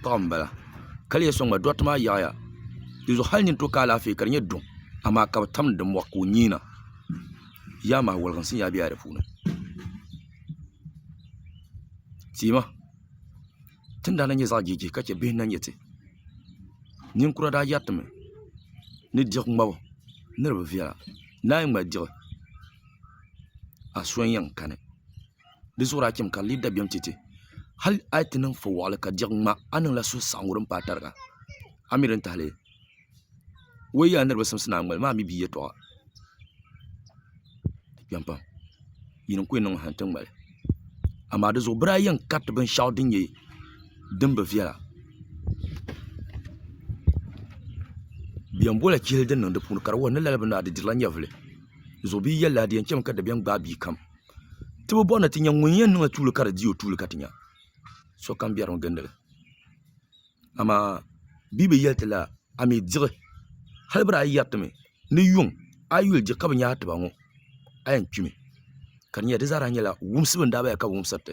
paɣa n bala ka lihi soŋ gba doɣatɛ maa yaɣaya dinzuɣu hali nini ti o ka alaafee ka di nyɛ duŋ amaa ka bi tam di moɣu ka o nyiina yaa maa woliginsi n yaa bɛ yaa di puuni tiima tindaa na nyɛ zaɣ jijiji ka chɛ bihi n na nyɛ ti ninkura daa yɛritimi ni diɣi ŋmabu ni di bi viɛla naai ŋmali diɣi a so n yɛn kani di zuɣuri a chim ka n lee dabiɛm chɛ ti. Hal a yi ti niŋ fo waɣili ka diɣi ŋma, a niŋla suhusaɣiŋgu din paai tariga. A mi din tahili o yi yɛl a ni di bi simsi ni a ŋmali ma a mi bia yɛtɔɣa. Di kpɛm pam. Yini n-ku yi niŋ ma ha nti ŋmali. Amaa di zuɣu bɛ daa yɛn kariti binshɛɣu din nyɛ din bi viɛla. Bɛ yɛn boli chihili din niŋ di puuni ka di wuhi ni lala bini maa di dirila nyɛvili. Di zuɣu bɛ yi yɛli li a di yɛn chami ka dabiɛm gbaai bia kam. ti bi bɔri ni ti nya ŋun yɛn niŋ tuuli ka di di o tuuli ka ti nya sokam biɛri ni gindili. Amaa Bibel yɛli ti lala, A mi diɣi, hali biri a yi yɛri ti mi ni yuŋ a yi yuli diɣi ka bi nya a tiba ŋɔ, a yɛn kpimi. Ka di nyɛla di zaa daa nyɛla wumsibu n-daa bala ka bɛ wumsiri ti.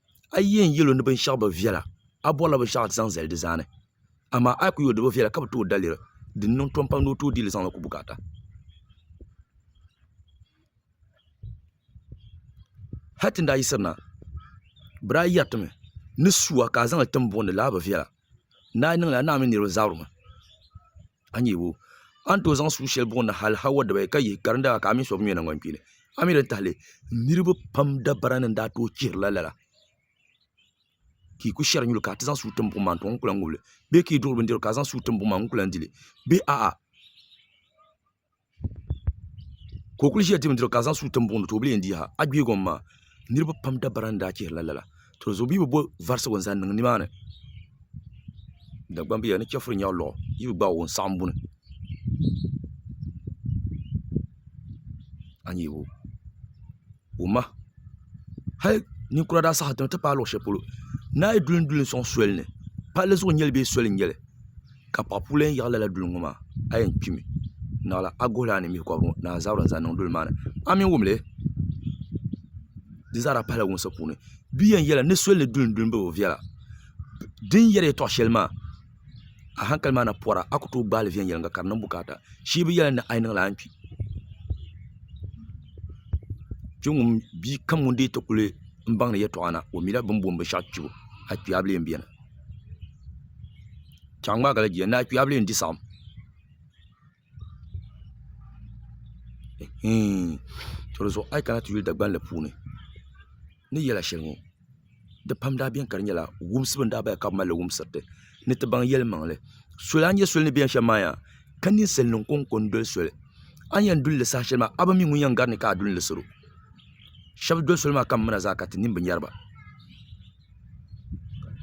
a yi yɛn yɛli o ni binshaɣu bi viɛla a bɔrila binshaɣu zaŋ zali di zaa ni amaa a yi kuli yɛli o di bi viɛla ka bi tooi daliri din niŋ tom pam ni o tooi deeli zaŋli ku bukaata hali ti ni daa yiɣisirina bɛ daa yɛritimi ni sua ka a zaŋli tim buɣim ni lala bi viɛla Naa niŋla naa mini niriba zabiri maa a ni yabo a ni tooi zaŋ sua sheli buɣi na hali Hawa dibaayi ka yihi ka di ni daa ka a mini so bi ŋmɛ nangban kpeeni a mi di tahali niriba pam dabara ni n daa tooi chihirila lala ka yi kuli sheri nyuli ka ti zaŋ sua tim buɣum maa n tɔŋ n kuli lahi ŋubili bee ka yi duɣiri bindirigu ka zaŋ sua tim buɣum maa n kuli lahi dili bee a'a. ka o kuli ʒiya diri bindirigu ka zaŋ suu tim buɣum ni ti o bi yɛn diiha a yuli gɔŋ maa niraba pam dabara n daa chihirila lala to zuɣu bee bi bo varisigu n zaŋ niŋ nimaani dagbaŋ biya ni chɛfuri nyaɣa luɣu yi bi gbaagi o n saɣam buni a ni yuli o ma hali ninkura daa saɣa ti paai luɣu shɛli polo naa yi duli n duli n soŋ soli ni palli zuɣu n nyɛli bee soli n nyɛli ka paɣa puu lahi yaɣi lala duli ŋo maa a yɛn kpimi naɣala a guhi laa ni mihi kobiri ŋo naa zabiri n zaŋ niŋ duli maa ni a mii wumli di zaa daa pahila wumsi puuni bia yɛn yɛli ni soli ni duli n duli n bɛ bi viɛla di ni yɛri yɛltɔɣa shɛli maa a hankali maa na pɔra a ku tooi gbaai li viɛnyɛliŋga ka di niŋ bukaata shee bi yɛli ni a yi niŋ li a ni kpi kpɛŋŋo bia kam ŋun deei ti kuli baŋdi yɛltɔɣa na o mila bini booni binshaɣu kpibu akpɛɣubilim biɛni ka a ŋmaagi la jia ni akpɛɣubilim di saɣam a yi kana ti yuli Dagbanli puuni ni yɛla shɛli ŋɔ di pam daa biɛni ka di nyɛla wumsibu n daa bala ka bi malili wumsirili ni ti baŋ yɛli maŋli so lahi nyɛ soli ni biɛni shɛm maa yaa ka ninsal nim ko n ko n doli soli a ni yɛn dulili saha shɛli maa a bi mi ŋun yɛn gari ni ka a du n lisiro shab doli soli maa ka n mina zaa ka ti nin bi nyɛriba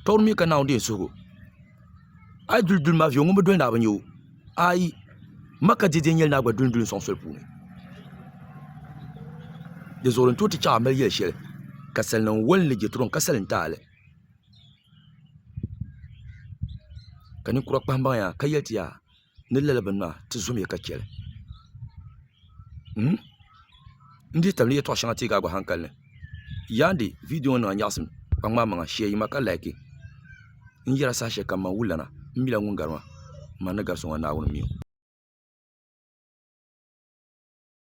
tɔbu mi ka Naawuni deei suhigu a yi duli duli maa viɛlli ŋun bi doli naa bi nya o ayi Makka dɛdɛ nyɛla naa gba duli duli n-sɔŋ soli puuni di zuɣuri n-tooi ti chaŋ a mali yɛl shɛli ka salnim woli ni Jɛtɔrɔm ka salim taali ka ninkura kpahimbaŋ ya ka yɛli ti yaa ni lala bini maa ti zom ya ka cheli m m dihi tabili yeltɔɣa sheŋa tee ka a gba hankali ni yaandi viidiyo ŋɔ niŋ a nyaɣasim ka ŋmaai maŋa shee yima ka laaki n yera saha sheli kam man wulana m mila ŋun gari maa m ma ni gari so ŋɔ Naawuni m mi o.